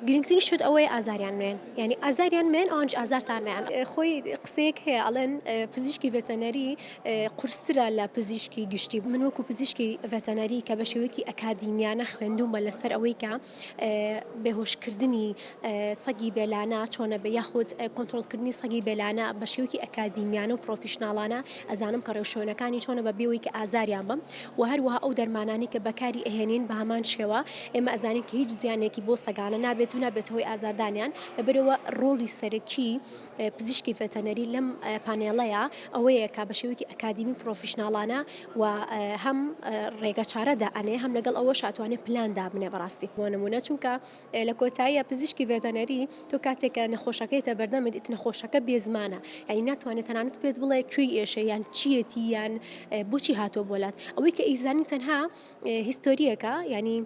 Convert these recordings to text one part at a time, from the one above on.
گرنگترین شت ئەوەیە ئازاریان مێن یعنی ئازاریان مێن ئەوانش ئازارتان نیان خۆی قسەیەک هەیە ئەڵێن پزیشکی ڤێتەنەری قورسترە لە پزیشکی گشتی من وەکو پزیشکی ڤێتەنەری کە بە شێوەیەکی ئەکادیمیانە خوێندومە لەسەر ئەوەی کە بێهۆشکردنی سەگی بێلانە چۆنە بە یاخود کۆنتترۆلکردنی سەگی بێلانە بە شێوکی ئەکادیمیانە و پرۆفیشنناڵانە ئەزانم کە ڕێوشۆنەکانی چۆنە بە بێەوەی کە ئازاریان بم وە هەروەها ئەو دەرمانانەی کە بەکاری ئەهێنین بە هەمان شێوە ئێمە ئەزانین کە هیچ زیانێکی بۆ سەگانە نابێت و نابێت هۆی ئازاردانیان لەبەرەوە ڕۆڵی سەرەکی پزیشکی ڤێتەنەری لەم پانێڵەیە ئەوەیە کا بە شێوەیەکی ئەکادیمی پرۆفیشناڵانە و هەم ڕێگە چارەدا ئەنێ هەم لەگەڵ ئەوە شاتوانێت پلان دابنێ بەڕاستی بۆ نمونە چونکە لە کۆتاییا پزیشکی ڤێتەنەری تۆ کاتێک کە نەخۆشەکەیتە بەردەمت ئیت نەخۆشەکە بێزمانە یعنی ناتوانێت تەنانەت پێت بڵێ کوێی ئێشە یان چیەتی یان بۆچی هاتۆ بۆلات ئەوەی کە ئیزانی تەنها هیستۆریەکە ینی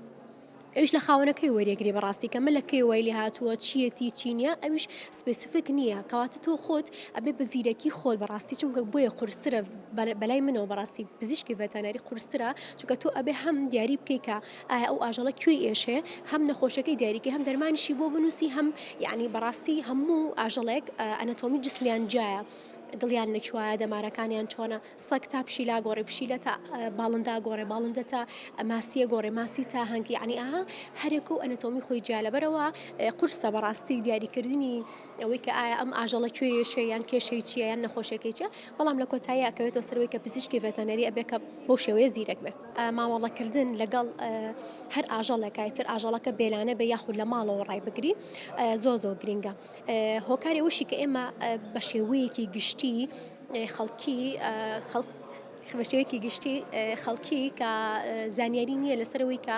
ئەوش لە خاونەکەی وەریەگری بەڕاستی کە ملەکەی وای لێ هاتووە چیەتی چینە ئەوش سپسفک نییە کەواتە تۆ خۆت ئەبێ بە زیرەکی خۆل بەڕاستی چونکە بۆیە قورسرە بەلای منەوە بەڕاستی پزیشکی ڤەتانەری قورسرە چونکە تۆ ئەبێ هەم دیاری بکەیت کە ئایا ئەو ئاژەڵە کوێی ئێشێ هەم نەخۆشەکەی دیاریکەی هەم دەرمانیشی بۆ بنووسی هەم یعنی بەڕاستی هەموو ئاژەڵێک ئەنەتۆمی جسمیان جایە دڵیان نەچوایە دەمارەکانیان چۆنە سەک تا پشیلا گۆڕێ پشیلە تا باڵندا گۆڕێ باڵندە تا ماسیە گۆڕێ ماسی تا هەنگی عنی ئاها هەرێک و ئەنەتۆمی خۆی جیا لەبەرەوە قورسە بەڕاستی دیاریکردنی ئەوەی کە ئایا ئەم ئاژەڵە کوێیەشە یان کێشەی چیە یان نەخۆشەکەی چە بەڵام لە کۆتایی ئەکەوێتەوە سەرەوەی کە پزیشکی ڤێتەنەری ئەبێ کە بۆ شێوەیە زیرەک بێ مامەڵەکردن لەگەڵ هەر ئاژەڵێکای تر ئاژەڵەکە بێلانە بێ یاخود لە ماڵەوە ڕای بگری زۆ زۆ گرنگە هۆکاری وشی کە ئێمە بە شێوەیەکی گشتی خەڵکی خەڵک بە شێوەیەکی گشتی خەڵکی کە زانیاری نییە لەسەر ئەوەی کە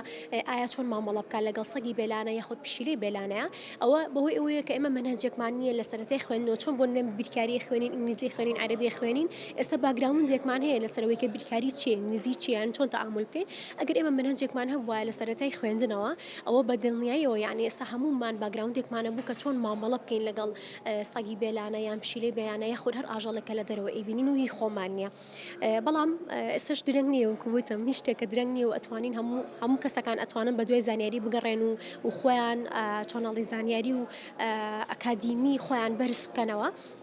ئایا چۆن مامەڵە بکات لەگەڵ سەگی بێلانە یاخود پشیلەی بێلانەیە ئەوە بەهۆی ئەوەیە کە ئێمە مەنهەجێکمان نییە لە سەرەتای خوێندنەوە چۆن بۆ نوێن بیرکاری خوێنین ئینگلیزی خوێنین عەرەبی خوێنین ئێستا باگراوندێکمان هەیە لەسەرەوەی کە بیرکاری چیە ئینگلیزی چیان چۆن تەعامل بکەین ئەگەر ئێمە مەنهەجێکمان هەبووە لە سەرەتای خوێندنەوە ئەوە بە دڵنیاییەوە یعنی ئێستا هەموومان باگراوندێکمانە بوو کە چۆن مامەڵە بکەین لەگەڵ سەگی بێلانە یان پشیلەی بەیانە یاخود هەر ئاژەڵێک کە لە دەرەوە ئەیبینین و هی خۆمان نییە بەڵام ئێسش درەنگ نییە و کووتم هیچ شتێکە درەنگ نییە و ئەتوانین هەموو هەموو کەسەکان ئەتوانن بە دوای زانیاری بگەڕێن و و خۆیان چۆناڵی زانیاری و ئەکادیمی خۆیان بەرز بکەنەوە